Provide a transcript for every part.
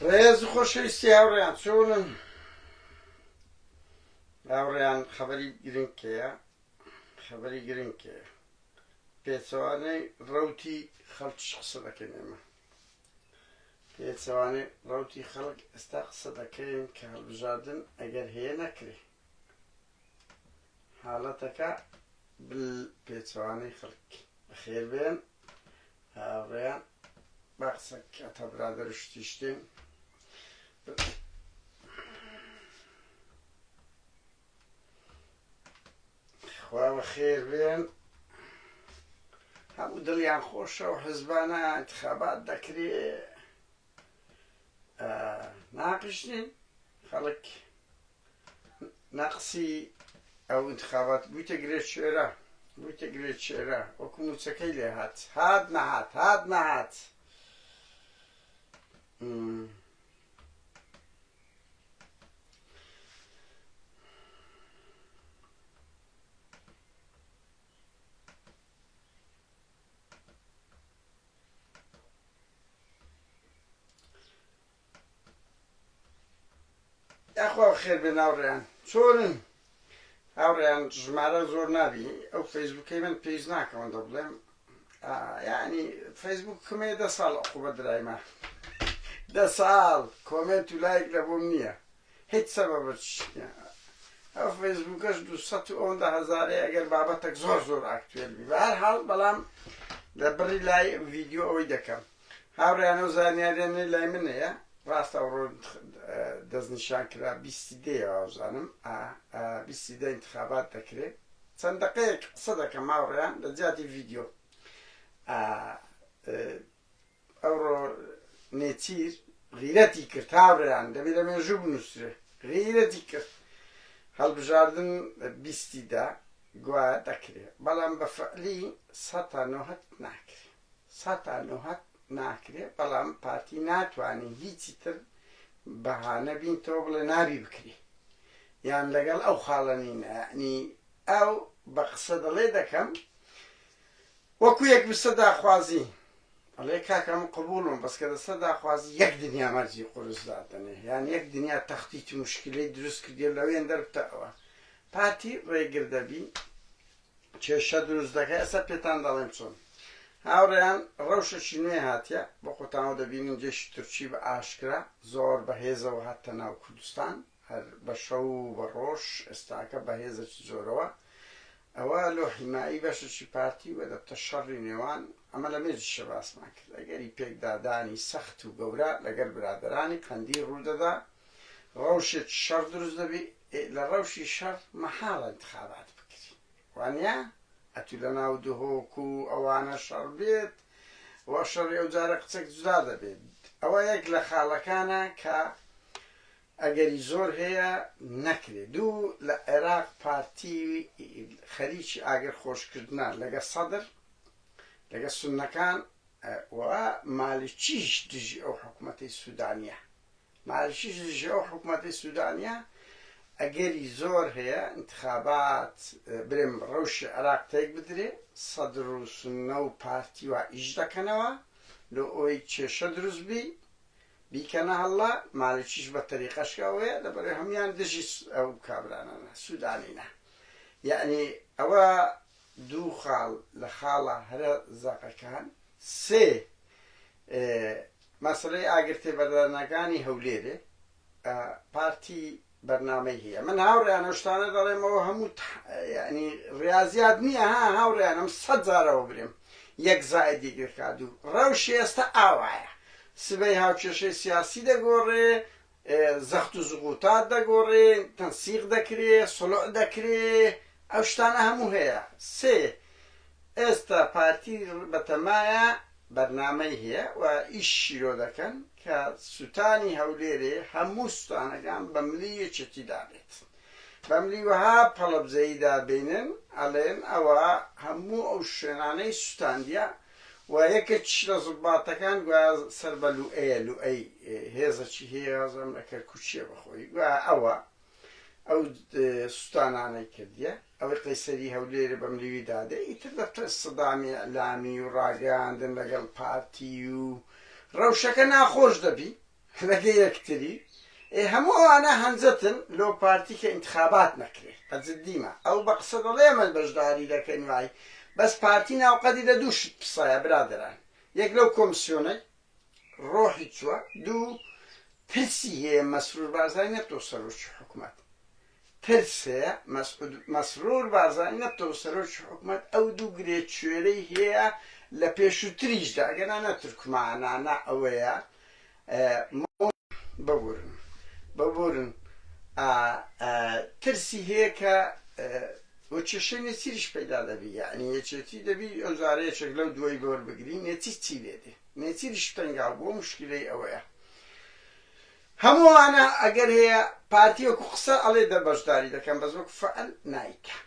ڕێز و خۆشەویستی هاوڕێیان چۆنن هاوڕێیان خەبەری گرنگکەیە خەبەری گرنگکەیە پێچەوانەی ڕوتی خەڵکیش قسە دەکەین ئێمە پێچەوانەی ڕوتی خەڵک ئێستا قسە دەکەین کە هەڵبژاردن ئەگەر هەیە نەکرێ حاڵەتەکە بل پێچەوانەی خەڵک بەخێر بێن هاوڕێیان با قسەک ئەتا برادەر و شتیشتێن خوا بەخێر بێن هەموو دڵیان خۆشە و حزبانە انتخابات دەکرێ ناقشتین خەڵک نەقسی ئەو ئینتخابات بوویتە گرێ شێرە، بوویتە گرێ شێرە، وەکو مووچەکەی لێ هات، هات نەهات، هات نەهات. یاخوا بەخێر بێن هاوڕێیان چۆنن هاوڕێیان ژمارە زۆر نابی ئەو فەیسبوکەی من پێیز ناکەون دە بڵێم ینی فەیسبوک کمێ دە ساڵ عقوبە درایمە دە ساڵ کۆمنت و لایک لە بۆم نییە هیچ سەبەبە ئەو فەیسبوکەش دو ئەوەندە هەزارەیە ئەگەر بابەتەک زۆر زۆر ئاکتوێل بی بە هەر حاڵ بەڵام لە بڕی لای ڤیددیو ئەوەی دەکەم هاوڕێیان ئەو زانیاریانەی لای من هەیە ڕاستە ئەوڕۆ دەست نیشان کرا بیستی دەیە وابزانم بیستی دە انتخابات دەکرێ چەند دقەیەک قسە دەکەم ماوڕێیان لە جیاتی ڤیددیو ئەوڕۆ نێچیر غیرەتی کرد هاوڕێیان دەبێت لە مێژوو بنووسێ غیرەتی کرد هەڵبژاردن بیستیدا گوایە دەکرێت بەڵام بە فعلی سەتا نۆهت ناکرێت سەتا نۆهەت ناکرێ بەڵام پارتی ناتوانی هیچی تر بەهانە بین تۆ بڵێ نابی بکری یان لەگەڵ ئەو خاڵە نینە یعنی ئەو بە قسە دەڵێ دەکەم وەکو یەک بسە داخوازی ئەڵێ کاکەم قبولم بەس کە دەسە داخوازی یەک دنیا مەرجی قورس دادنێ یان یەک دنیا تەختیی مشکلی دروست کردی لەوێن دەربتە ئەوە پارتی ڕێگر دەبی کێشە دروست دەکەی ئەسە پێتان دەڵێم چۆن هاوڕێیان ڕەوشەکی نوێ هاتیە بۆ خۆتانەوە دەبینین جێشی تورکی بە ئاشکرا زۆر بەهێزەوە هاتە ناو کوردستان هەر بە شەو و بە ڕۆژ ئێستاکە بەهێزەکی زۆرەوە ئەوە لۆ حیمایی بەشەکی پارتی و دەبتە شەڕی نێوان ئەمە لە مێجیشە باسمان کرد ئەگەری پێکدادانی سەخت و گەورە لەگەر برادرانی قەندی ڕوودەدا ڕەوشێک شەڕ دروست دەبی ئێ لە ڕەوشی شەڕ مەحاڵە انتخابات بکری وانیە؟ ئەتوو لە ناو دهۆک و ئەوانە شەڕ بێت و شەڕی ئەو جارە قسەک جودا دەبێت ئەوە یەک لە خاڵەکانە کە ئەگەری زۆر هەیە نەکرێت دوو لە عێراق پارتی خەریکی ئاگر خۆش کردنە لەگە سەدر لەگە سونەکان و مالکیش دژی ئەو حکومەتی سودانیە. مالکیش دژی ئەو حکومەتەی سودانیە ئەگەری زۆر هەیە ئینتخابات برێم ڕەوشی عێراق تێک بدرێ سەدر و سنە و پارتی وا ئیش دەکەنەوە لۆ ئەوەی کێشە دروست بی بیکەنە هەڵا مالکیش بە تەریقەشکە ئەوەیە لەبەرەوەی هەموان دژی ئەو کابرانانە سودانینە یعنی ئەوە دوو خاڵ لە خاڵە هەرە زەقەکان سێ ئێ مەسەلەی ئاگر تێبەردانەکانی هەولێرێ ئە پارتی بەرنامەی هەیە من هاوڕێیان ئەو شتانە دەڵێم ئەوە هەموو تح یانی ڕیازیات نییە ها هاوڕێیان ئەم سەد جارەوە برێم یەک زائید یەک دەکا دوو ڕەوشی ئێستا ئاوایە سبەی هاوکێشەی سیاسی دەگۆڕێ زەخت و زغوتات دەگۆڕێ، تەنسیق دەکرێ، سڵع دەکرێ، ئەو شتانە هەموو هەیە. سێ، ئێستا پارتی بەتەمایە بەرنامەی هەیە و ئیش شیرۆ دەکەن کە سوتانی هەولێرێ هەموو سوتانەکان بە ملی یەکێتی دابێت. بە ملی وەها پەڵەبزەیی دابینن ئەڵێن ئەوە هەموو ئەو شوێنانەی سوتاندیە و یەکێکیش لە زوباتەکان گوایە سەر بە لوئەیە، لوئەی هێزەکی هەیە وازام لە کەرکوکیە بەخۆی گوایە ئەوە ئەو سوتانانەی کردیە، ئەوەی قەیسەری هەولێرە بە ملیوی دادێ، ئیتر دەبتە سەدامی ئیعلامی و ڕاگەیاندن لەگەڵ پارتی و ڕەوشەکە ناخۆش دەبی. خرەگە یەکتری ئێ هەموو ئەوانە هەنجەتن لۆ پارتی کە ئینتخابات نەکرێ بە جدیمە ئەو بە قسە دەڵێ ئەمەش بەشداری دەکەین وای بەس پارتی ناو قەدی دە دوو شت پسەیە برادەران یەک لەو کۆمسیۆنەی ڕۆحی چوە دوو ترسی هەیە مەسرور بارزانی نەبتەوە سەرۆکی حکومەت ترس هەیە مەسعود مەسرور بارزانی نەبتەوە سەرۆکی حکومەت ئەو دوو گرێ کوێرەی هەیە لە پێشوتریشدا ئەگەرنا نە تورکمانە نە ئەوەیە مۆ ببورن ببورن ئا ئا ترسی هەیە کە وە کێشەی نێچیریش پەیدا دەبی یەعنی یەکێتی دەبی ئەو جارە یەکێک لەو دووەی بۆر بگری نێچیر چی لێ دێ نێچیریش تەنگاو بووە موشکیلەی ئەوەیە هەموو ئەوانە ئەگەر هەیە پارتی وەکو قسە ئەڵێ دە بەشداری دەکەم بەس وەکو فعل نایکا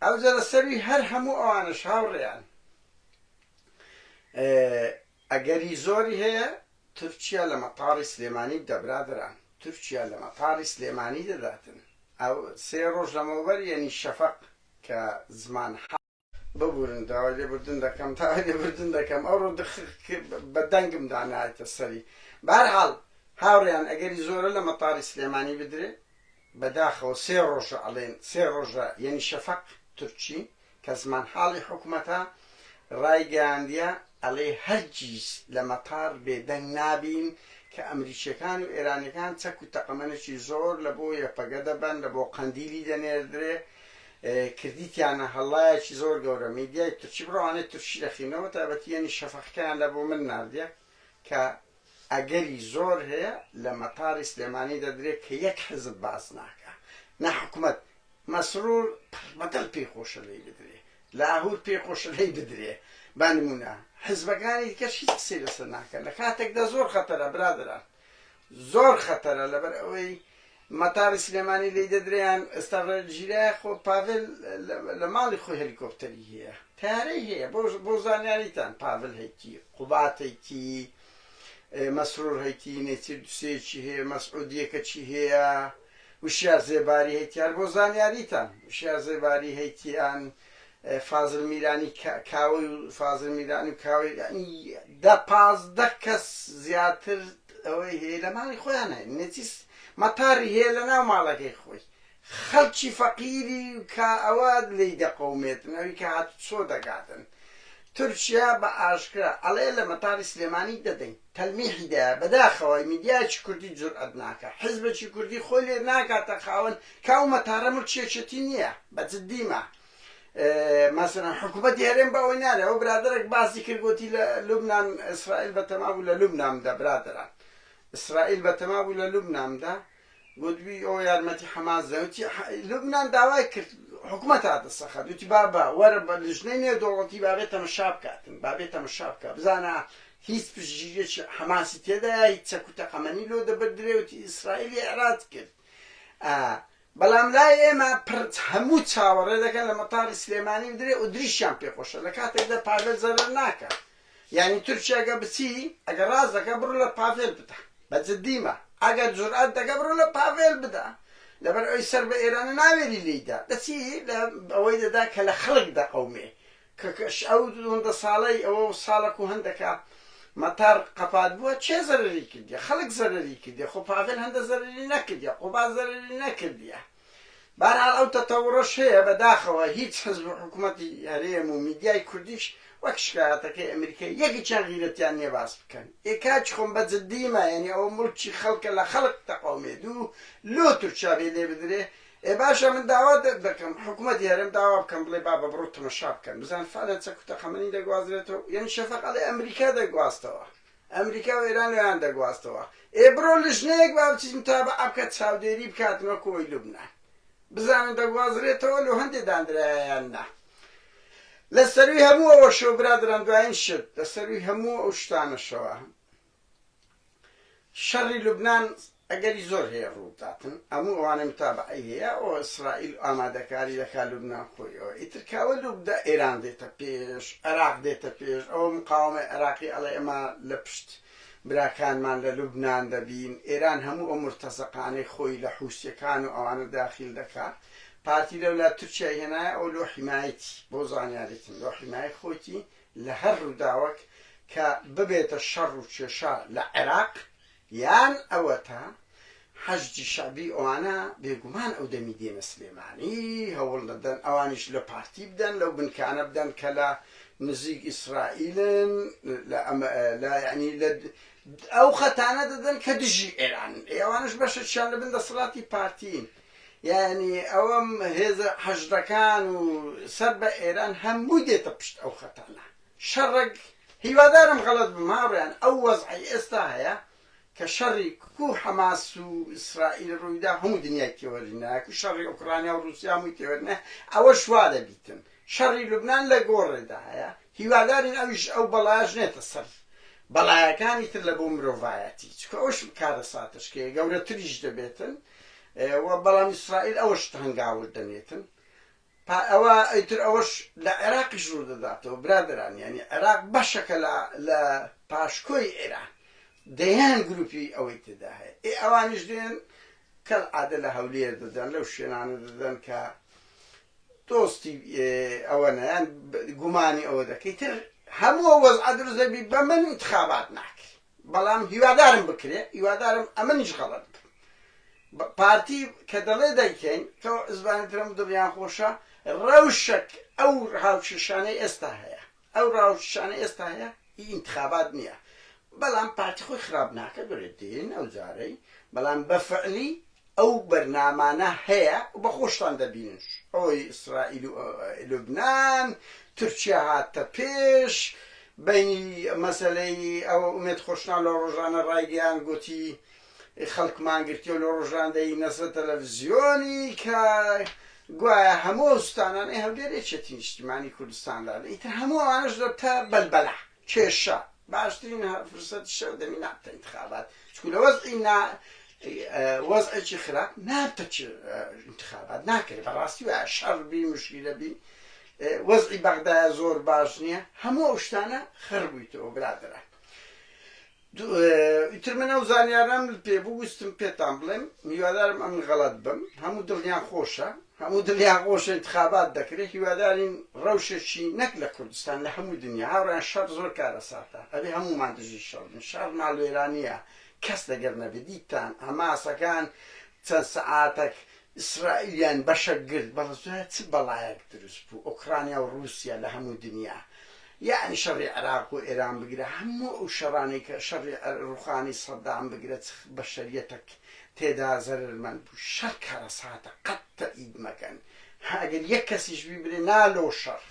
ئەوجە لە سەروی هەر هەموو ئەوانەش هاوڕێیان ئەگەری زۆری هەیە تورکیا لە مەتاڕی سلێمانی بدە برادەران تورکیا لە مەتاڕی سلێمانی دەداتن ئەو سێ ڕۆژ لەمەوبەر یەنی شەفەق کە زمان ببورن داوای لێبوردن دەکەم داوای لێبوردن دەکەم ئەوڕۆ دخ بە دەنگم دا نایتە سەری بەهەرحاڵ هاوڕێیان ئەگەری زۆرە لە مەتاڕی سلێمانی بدرێ بەداخەوە سێ ڕۆژە ئەڵێن سێ ڕۆژە یەنی شەفەق تورکی کە زمانحاڵی حکومەتە ڕایگەیاندیە ئەڵێ هەرگیز لە مەتاڕ بێدەنگ نابین کە ئەمریکیەکان و ئێرانیەکان چەک و تەقەمەنێکی زۆر لە بۆ یەپەگە دەبەن لە بۆ قەندیلی دەنێردرێ کردیتیانە هەڵایەکی زۆر گەورە میدیای تورکی بڕۆ ئەوانەی تورکی دەخینە بە تایبەتی یەنی شەفەقەکەیان لە بۆ من ناردیە کە ئەگەری زۆر هەیە لە مەتاری سلێمانی دەدرێت کە یەک حزب باس ناکە نە حکومەت مەسرور پڕبەدەل پێی خۆشە لێی بدرێ لاهور پێی خۆشە لێی بدرێ با نمونە حزبەکانی دیکەش هیچ قسەی لەسەر ناکە لە کاتێکدا زۆر خەتەرە برادران زۆر خەتەرە لەبەر ئەوەی مەتاری سلێمانی لێی دەدرێیان ئێستا ڕێل گیرایە خۆ پاڤێل لە ماڵی خۆی هەلیکۆپتەری هەیە تارەی هەیە بۆ زانیاریتان پاڤل هەیتی قوبات هەیتی مەسرور هەیتی نێچیر دوسێکی هەیە مەسعودیەکە چی هەیە وشیار زێباری هەیتیان بۆ زانیاریتان وشیار زێباری هەیتیان فازل میرانی کاوەی و فازل میرانی و کاوەی یانی دە پازدە کەس زیاتر ئەوەی هەیە لە ماڵی خۆیان هەیە نەچیس مەتاری هەیە لە ناو ماڵەکەی خۆی خەڵکی فەقیری کە ئەوە لی دەقەومێتن ئەوی کە هات چۆ دەگاتن تورکیا بە ئاشکرا ئەڵێ لە مەتاری سلێمانی دەدەین تەلمیحی دە بەداخەوە میدیایکی کوردی جورئەت ناکە حزبەکی کوردی خۆی لێ ناکاتە خاوەن کە ئەو مەتارە ملکیەکێتی نییە بە جدیمە مەسەلەن حکومەتی هەرێم بە ئەوەی نارێ ئەوە برادەرێک باسی کرد گۆتی لە لوبنان ئیسرائیل بە تەما بوو لە لوبنامدا برادەران ئیسرائیل بە تەما بوو لە لوبنامدا گوتبی ئەو یارمەتی حەماس دەوتی لوبناان داوای کرد حکومە تا دەسەخە دوتی بابا وەرە بە لژنەی نوێ دەوڵەتی بابێت تەمەشا بکاتن بابێت تەمەشا بکە بزانە هیچ پشتگیریەکی حەماسی تێدایە هیچ چەک و تەقەمەنی لۆ دەبدرێوتی ئیسرائیلی عێراق کرد بەڵام لای ئێمە پرد هەموو چاوەڕێ دەکەن لە مەتاڕی سلێمانی بدرێ و دریشیان پێ خۆشە لە کاتێکدا پاڤێل زەرەر ناکا یانی تورکیا گە بچی ئەگەر ڕاست دەکە بڕۆ لە پاڤێل بدە بە جدیمە ئەگەر جورئەت دەکە بڕۆ لە پاڤێل بدە لەبەر ئەوی سەر بە ئێرانە ناوێری لێی دا دەچی لە ئەوەی دەدا کە لە خەڵک دەقەومێ کە کەش ئەو دووندە ساڵەی ئەوە و ساڵە کو هەندەکە مەتار قەپات بووە چێ زەرەری کردیە؟ خەڵک زەرەری کردیە خۆ پاڤێل هەندە زەرەری نەکردیە قوباد زەرەری نەکردیە بەهەرحاڵ ئەو تەتەوڕەش هەیە بەداخەوە هیچ حزب و حکومەتی هەرێم و میدیای کوردیش وەک شکایەتەکەی ئەمریکای یەکیچیان غیرەتیان نیە باس بکەن ئێ کاکی خۆم بە جدیمە یانی ئەوە موڵکی خەڵکە لە خەڵک تەقەومێ دوو لۆ تورکیا بێ لێ بدرێ ئێ باشە من داوا دەکەم حکومەتی هەرێم داوا بکەن بڵێ بابە بڕۆ تەمەشا بکەن بزان فعلەن چەک و تەقەمەنی دەگوازرێتەوە یەعنی شەفەق ئەڵێ ئەمریکا دەگواستەوە ئەمریکا و ئێران ئەویان دەگواستەوە ئێ بڕۆ لژنەیەک با بچیت متابعە بکات چاودێری بکاتن وەکو ئەوەی لوبنان بزانن دەگوازرێتەوە لۆ هەندێ دانرایا یان نا لە سەرووی هەموو ئەوەشەوە برادەران دوایین شت لە سەرووی هەموو ئەو شتانەشەوە شەڕی لوبنان ئەگەری زۆر هەیە ڕووبداتن هەموو ئەوانەی متابەعەی هەیە ئەوە ئیسرائیل ئامادەکاری دەکات لوبنان خۆی ئەوە ئیتر کاوە لوبدا ئێران دێتە پێش عێراق دێتە پێش ئەوە مقاوەمەی عێراقی ئەڵێ ئەمە لە پشت براکانمان لە لوبنان دەبین ئێران هەموو ئەو مرتەزەقانەی خۆی لە حوسیەکان و ئەوانە داخیل دەکا پارتی لەولا تورکیای هێنایە ئەو لۆ حیمایەتی بۆ زانیاریتن لۆ حیمایەت خۆیتی لە هەر ڕووداوەک کە ببێتە شەڕ و کێشە لە عێراق یان ئەوەتا حەشدی شەعبی ئەوانە بێگومان ئەو دەمی دێنە سلێمانی هەوڵ دەدەن ئەوانیش لە پارتی بدەن لەو بنکانە بدەن کە لە نزیک ئیسرائیلن لە ئەمە لە یعنی لە ئەو خەتانە دەدەن کە دژی ئێران ئێوانش بەشەکیان لە بن دەسەڵاتی پارتین یانی ئەوەم هێزە حەشدەکان و سەر بە ئێران هەمووی دێتە پشت ئەو خەتانە شەڕەک هیوادارم غەڵەت بم هاوڕێیان ئەو وەزعەی ئێستا هەیە کە شەڕی کو حەماس و ئیسرائیل ڕوویدا هەموو دنیای تێوەری نایەک و شەڕی ئۆکرانیا و ڕوسیا هەمووی تێوەرنە ئەوە شوا دەبیتن شەڕی لوبنان لە گۆڕێدا هەیە هیوادارین ئەویش ئەو بەڵایش نێتە سەر بەڵایەکانی تر لە بۆ مرۆڤایەتی چکە ئەوش کارە ساتشکەیە گەورەتریش دەبێتن و بەڵام ئیسرائیل ئەوە شت هەنگاوت دەنێتن پا ئەوە ئەیتر ئەوەش لە عێراقیش ڕوو دەداتەوە برادران یعنی عێراق بەشەکە لە لە پاشکۆی ئێران دەیان گروپی ئەوەی تێدا هەیە ئێ ئەوانیش دێن کەل عادە لە هەولێر دەدەن لەو شوێنانە دەدەن کە دۆستی ئەوە نیان گومانی ئەوە دەکەی تر هەموو وەز عدرزەبی بە من انتخابات ناکرێت بەڵام هیوادارم بکرێ هیوادارم ئەمنیش غەڵەت بم بە پارتی کە دەڵێ دەیکەین تۆ زبانی ترم دڵیان خۆشە ڕەوشەک ئەو هاوکێشانەی ئێستا هەیە ئەو ڕاوشانە ئێستا هەیە هی انتخابات نییە بەڵام پارتی خۆی خراپ ناکە گرێ دێن ئەو جارەی بەڵام بە فعلی ئەو بەرنامانە هەیە و بە خۆشتان دەبینن ئەوەی ئیسرائیل و لوبنان تورکیا هاتە پێش بەینی مەسەلەی ئەوە ئومێد خۆشناو لە ڕۆژانە ڕایگەیان گۆتی خەڵکمان گرتیەوە لە ڕۆژان دەینەسە تەلەفزیۆنی کە گوایە هەموو ئەو ستانانەی هەولێر یەکێتی نیشتیمانی کوردستان دادەن ئیتر هەموو ئەوانەش دەبتە بەلبەلە کێشە، باشترین فرسەتی شەو دەمی ناپتە ئینتخابات، چونکو لە وەزعی نا وەزعێکی خراپ ناپتە ئینتخابات ناکرێت، بەڕاستی وایە شەڕ بی مشکیلە بی، وەزعی بەغدایە زۆر باش نییە، هەموو ئەو شتانە خڕبوویتەوە برادەران. ئیتر من ئەو زانیارەم پێ بوو ویستم پێتان بڵێم هیوادارم ئەمن غەڵەت بم هەموو دڵیان خۆشە هەموو دڵیان خۆشە انتخابات دەکرێت هیوادارین ڕەوشێکی نەک لە کوردستان لە هەموو دنیا هاوڕیان شەڕ زۆر کارەساتە ئەبێ هەموومان دژی شەڕ بین شەڕ ماڵوێرانیە کەس لەگەر نەبێت دیتان هەماسەکان چەند سەعاتەک ئیسرائیلیان بەشە گرت بەڵ زوایە چ بەڵایەک دروست بوو ئۆکڕانیا و ڕووسیا لە هەموو دنیا یەعنی شەڕی عێراق و ئێران بگرە هەموو ئەو شەڕانەی کە شەڕی عێ ڕووخانی سەدام بگرە چ بەشەریەتەک تێدا زەرەر مەند بوو شەڕ کارەساتە قەت تە ئید مەکەن هە ئەگەر یەک کەسیش بیبرێ نا لۆ شەڕ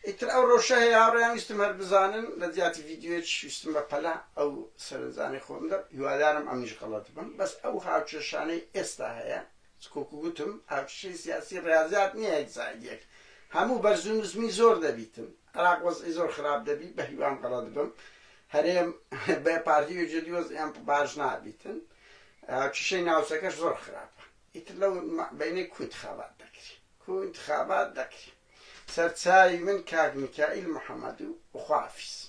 ئیتر ئەو ڕەوشە هەیە هاوڕێیان ویستم هەر بزانن لە جیاتی ڤیدیۆیەکیش ویستم بە پەلە ئەو سەرنجانەی خۆم بدەم هیوادارم ئەمنیش غەڵەت بم بەس ئەو هاوکێشانەی ئێستا هەیە چکۆکو گوتم هاوکیشەی سیاسی ڕیازیات نیە یەک زائید یەک هەموو بەرزو نزمی زۆر دەبیتن عراق وەزعی زۆر خراپ دەبی بەهیوام غەڵەت بم هەرێم بێ پارتی یەکێتی وەزعیان باش نابیتن هاوکیشەی ناوچەکەش زۆر خراپە ئیتر لەو بەینەی کو انتخابات دەکری کو انتخابات دەکری سەرچاوی من کاک میکائیل محمد و خوافیز.